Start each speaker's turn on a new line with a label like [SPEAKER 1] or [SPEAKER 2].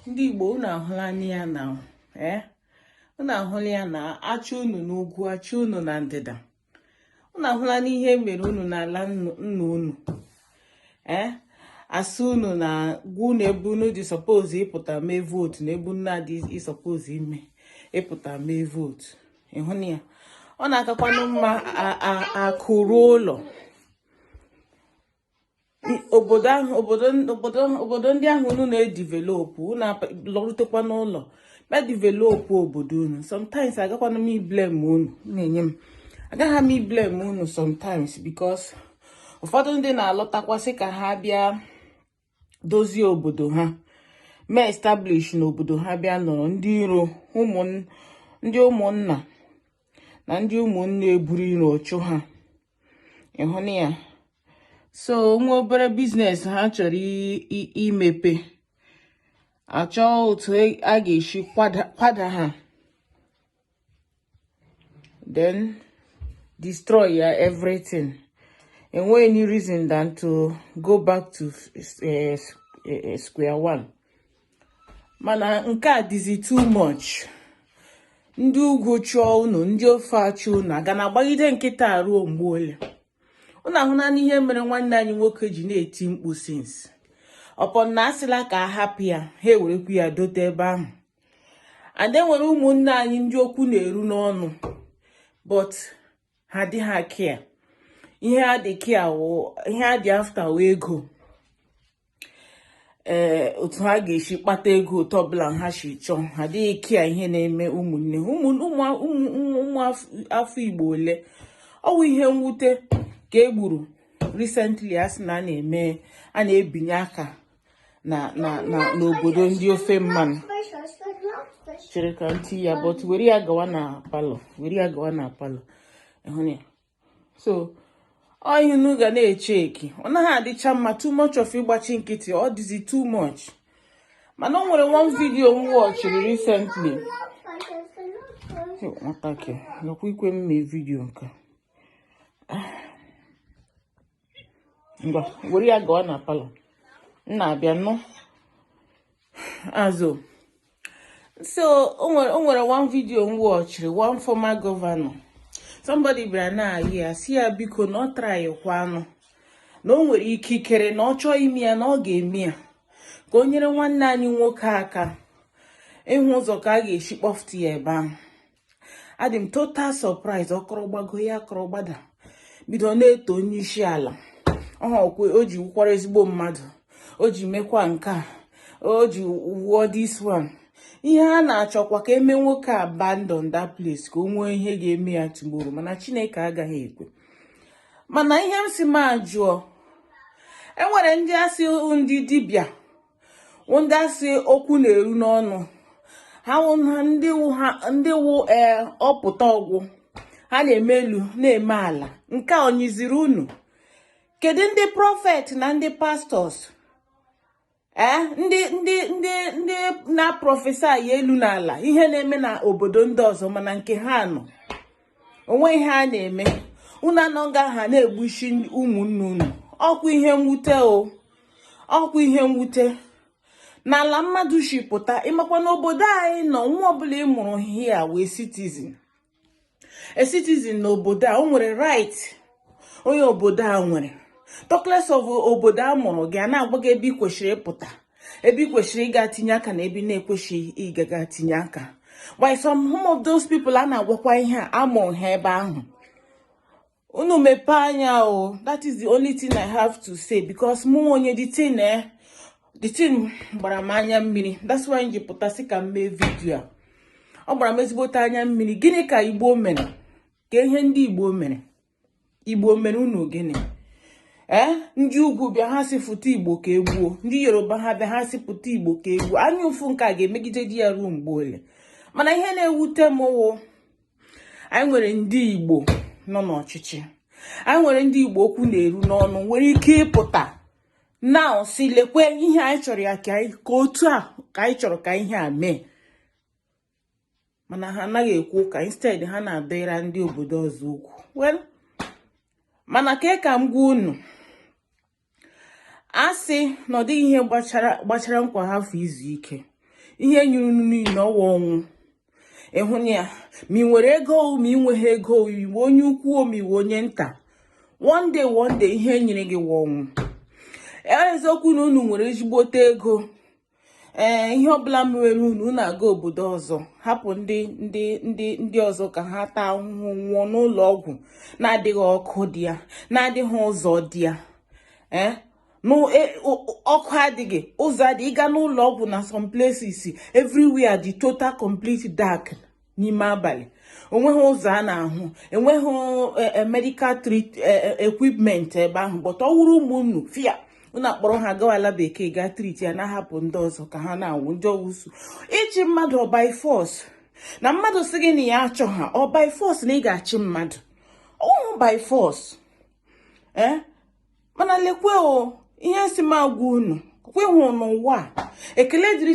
[SPEAKER 1] ndị Igbo unu ahụla ya now ee eh? unu ahụla ya na achụ unu n'ugwu achụ unu na ndịda unu ahụlanụ ihe mere unu n'ala nna unu ee eh? asị unu na-agwa unu ebe unu dị suppose ịpụta mee vote na ebe unu na-adị suppose ime ịpụta mee vote ịhụna ya ọ na-akakwanụ mma akụ ruo ụlọ obodo ahụ obodo obodo obodo ndị ahụ unu na-edevelop unu lọrutekwa n'ụlọ ma develop obodo unu sometimes agakwanụ m iblame unu na-enye m agaghị m iblame unu sometimes because ụfọdụ ndị na-alọtakwa sị ka ha bịa dozie obodo ha mee establish n'obodo ha bịa nọrọ ndị iro ndị ụmụnna na ndị ụmụnne eburu iro chụọ ha ịhụna ya so nwa obere business ha chọrọ imepe achọọ otu e, a ga-esi kwada ha then destroy ya everything enweghị any reason than to go back to eh, eh, eh, square one mana nke a dịzi too much ndị ugwu chụọ unu ndị ofe achụ unu a ga na-agbagide nkịtị ruo mgbe ole unu ahụnanụ ihe mere nwanne anyị nwoke ji na-eti mkpu since upon na a sịla ka a hapụ ya ha ewerekwu ya dote ebe ahụ and e nwere ụmụnne anyị ndị okwu na-eru n'ọnụ but ha dịha care ihe ha dị care ihe ha dị after wụ ego ee eh, otu ha ga-esi kpata ego otu ọbụla ha si chọọ ha dịghị care ihe na-eme ụmụnne ụmụ afọ Igbo ole ọ wụ ihe mwute ka e gburu recently a sị na a na-eme a na-ebinye aka na na na n'obodo ndị ofe mmanụ chere ka ntị ya but were ya gawa na palọ were ya gawa na palọ ịhụna ya so ọ ihe unu ga na-echeck ọ naghị adịcha mma too much of ịgbachi nkịtị ọ dịzi too much mana o nwere one video m watchiri recently nwatakịrị nakwa ikwe m mee video nke ngwa were ya gawa na palọ m na-abịa nọ azụ so o nwere one video m watchiri one former governor somebody bịara na-ayọ ya sị ya biko na ọ trykwanụ na o nwere ikikere na ọ chọọ ime ya na ọ ga-eme ya ka o nyere nwanne anyị nwoke aka ịhụ ụzọ ka a ga-esi kpọfụta ya ebe ahụ adị m total surprise ọ kọrọ gbago ya akọrọ gbada bido na-eto onye isi ala ọkwe o ji wụkwara ezigbo mmadụ o ji mekwa nke a o ji wụọ this one ihe ha na-achọkwa ka eme nwoke abandon that place ka o nwee ihe ga-eme ya tomorrow mana chineke agaghị ekwe mana ihe m si m ajụọ e nwere ndị a sị ndị dibịa ndị a sị okwu na-eru n'ọnụ ha ndị wụ ee ọ pụta ọgwụ ha na-eme elu na-eme ala nke a ọ nyịziri unu kedu ndị prophet na ndị pastors ee ndị ndị ndị ndị na-prophesy elu na ala ihe na-eme na obodo ndị ọzọ mana nke ha nọ o nwe ihe a na-eme unu anọ nga ha na-egbusi ụmụnne unu ọkwa ihe mwute o ọkwa ihe mwute n'ala mmadụ si pụta ị makwa na obodo anyị nọ nwa ọbụla ị mụrụ here wụ a citizen a citizen n'obodo a o nwere right onye obodo a nwere talkless of obodo a mụrụ gị a na-agwa gị ebe ị kwesịrị ịpụta ebe ị kwesịrị ịga tinye aka na ebe na-ekwesịghị ịgaga tinye aka while some of those people a na-agwakwa ihe a amụ ha ebe ahụ unu mepee anya o that is the only thing i have to say because mụ onye the thing eh the thing gbara m anya mmiri that's why m ji pụta sị ka m mee video a ọ gbara m ezigbote anya mmiri gịnị ka igbo mere ka ihe ndị igbo mere igbo mere unu gịnị ee eh, ndị ugwu bịa ha sị pụta igbo ka e gbuo ndị yoruba ha bịa ha sị pụta igbo ka e gbuo anya ụfụ nke a ga-emegidedi ya ruo mgbe ole mana ihe na-ewute m wụ anyị nwere ndị igbo nọ n'ọchịchị anyị nwere ndị igbo okwu na-eru n'ọnụ nwere ike ịpụta now sị lekwa ihe anyị chọrọ ya ka otu a ka anyị chọrọ ka ihe a mee mana ha anaghị ekwu ụka instead ha na-adịra ndị obodo ọzọ ukwu well mana ka ka m gwa unu a sị na ọ dịghị ihe gbachara nkwa hafụ izu ike ihe nyịrị unu niile ọ wa ọnwụ ị hụna ya ma ị nwere ego ma ị nweghị ego ị wụ onye ukwu ma ị wụ onye nta one day one day ihe nyịrị gị wa ọnwụ eziokwu na unu nwere ezigbote ego ee ihe ọbụla mere unu unu aga obodo ọzọ hapụ ndị ndị ndị ndị ọzọ ka ha taa ahụhụ nwụọ n'ụlọ ọgwụ na-adịghị ọkụ dị ya na-adịghị ụzọ dị ya ee e, ọkụ adịghị ụzọ adịghị ị gaa n'ụlọ ọgwụ na some places everywhere dị total complete dark n'ime abalị o nweghị ụzọ a na-ahụ enweghị e, e, medical treat e, equipment ebe ahụ but ọ wụrụ ụmụ unu fia unu akpọrọ ha gawa ala bekee gaa treat ya na-ahapụ ndị ọzọ ka ha na-anwụ ndị awụsa ịchị mmadụ ọ by force na mmadụ sị gị na ya achọha ọ by force na ị ga-achị mmadụ ọ wụ by force ee mana lekwe o ihe si m agwa unu kweghụ n'ụwa ekele dịrị